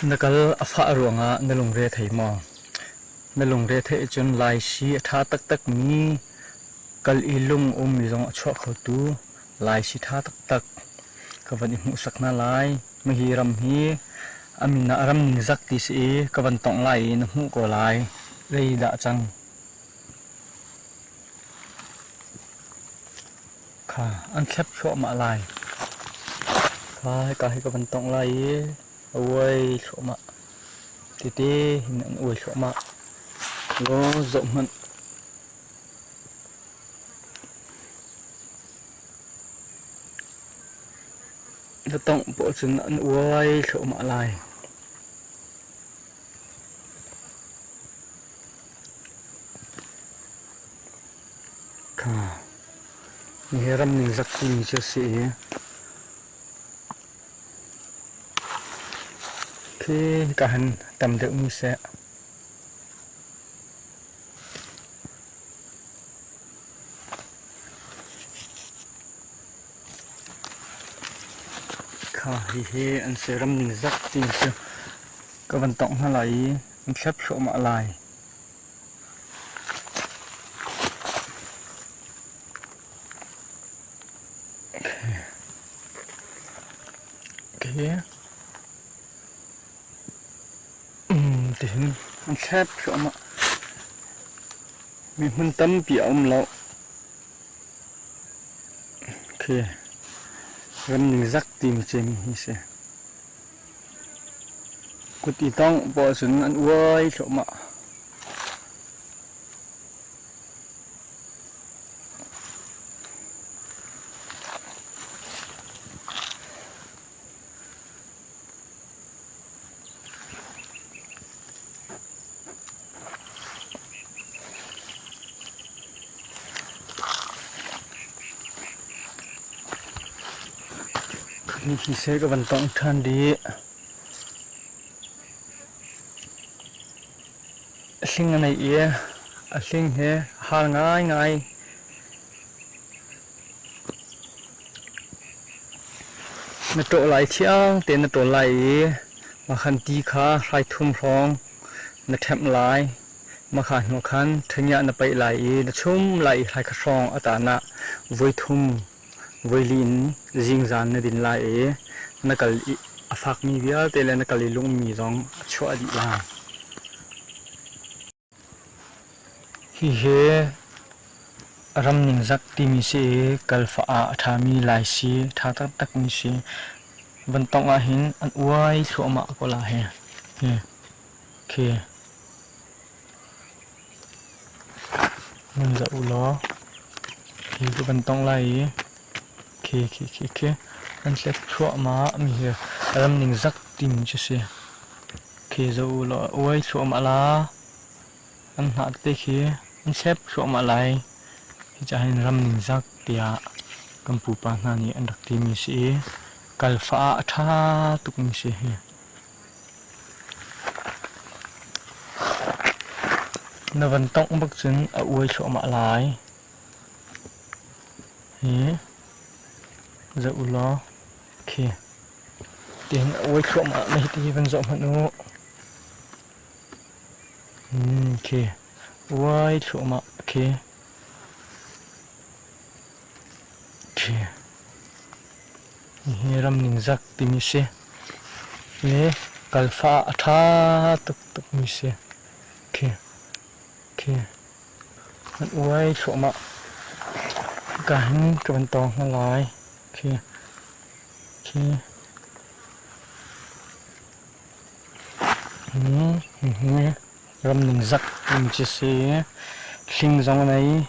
Na kal a fah ruangah na lungre thei maw? Na lungre theih cun laisi a ṭha taktakmi kal i lung-ummi zong a chuah khotu laisi ṭha taktak ka van i hmuhsak hna lai. Hihi ram hi a min ah ram ningzak ti si i ka van tongh lai i na hmuh ko lai. Leidah cang? Kha an thlep thluahmah lai. Kai ka hi ka van tongh lai i a uai thluahmah. Titi hin an uai thluahmah. Go zoh hmanh. Na tongh paoh cun an uai thluahmah lai. Kha Nihe ram ningzak timi cu a si i, khi hika han tam deuh nu seh. Kha hihi an si ram ningzak timi cu ka van tongh hna lai i, an thlep thluahmah lai. Tihin an thlet thluahmah. Mi hmun tampi a um lo. Okay. Ram ningzak timi cu mi hi si. Kut i tongh pawl cun an uai thluahmah. Hniksel ka van tongh ṭhan dih. A hling a neih i a hling hi a har ngaingai. Na ṭawh lai thiang tein na ṭawl lai i mahkhan ti kha hrai thum hrawng na ṭhemh lai. Mahka hnuah khan ṭhaniah na paih lai i na chum lai i hlaikha hrawng a tanah voi thum voi li in zingzan na din lai i na kal i a fakmi vialte le na kal i lungmi zong a chuah dih lai. Hihi ram ningzak timi si i kalfah ah a ṭhami laisi ṭha taktakmi si. Van tongh ahhin an uai thluahmah ko lai hi. Nan zoh ulaw hi cu kan tawngh lai i khi kan hlet thluahmah mi hi ram ningzak ding cu si. Khi zoh ulaw a uai thluahmah la, an hnah te khi an thlep thluahmah lai. Hi ca hin ram ningzak tiah kan pupa hna nih an rak ti mi si i, kal fah ah a tha tuk mi si hi. Na van tongh bak cun a uai thluahmah lai. Hi zoh u law khi tihin a uai thluahmah na hiti van zoh hmanh u. Hmm, khi uai thluahmah khi. Khi. Nihin ram ningzak timi si le kalfa a ṭha tuktukmi si. Khi, khi an uai thluahmah. Hika hin ka van tawng hna lai. Khi, khi hihi ram ningzak timi si. Hling zong a nei.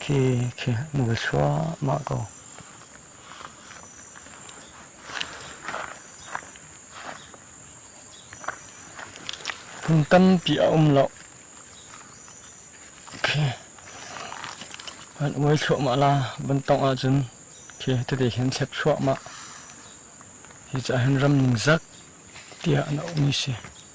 Thi khi mui thluahmah ko. Hmun tampi a um lo. Khi an uai thluahmah la ban tong ahcun khi tete hin thlep thluahmah. Hi ca hin ram ningzak tiah an um i si.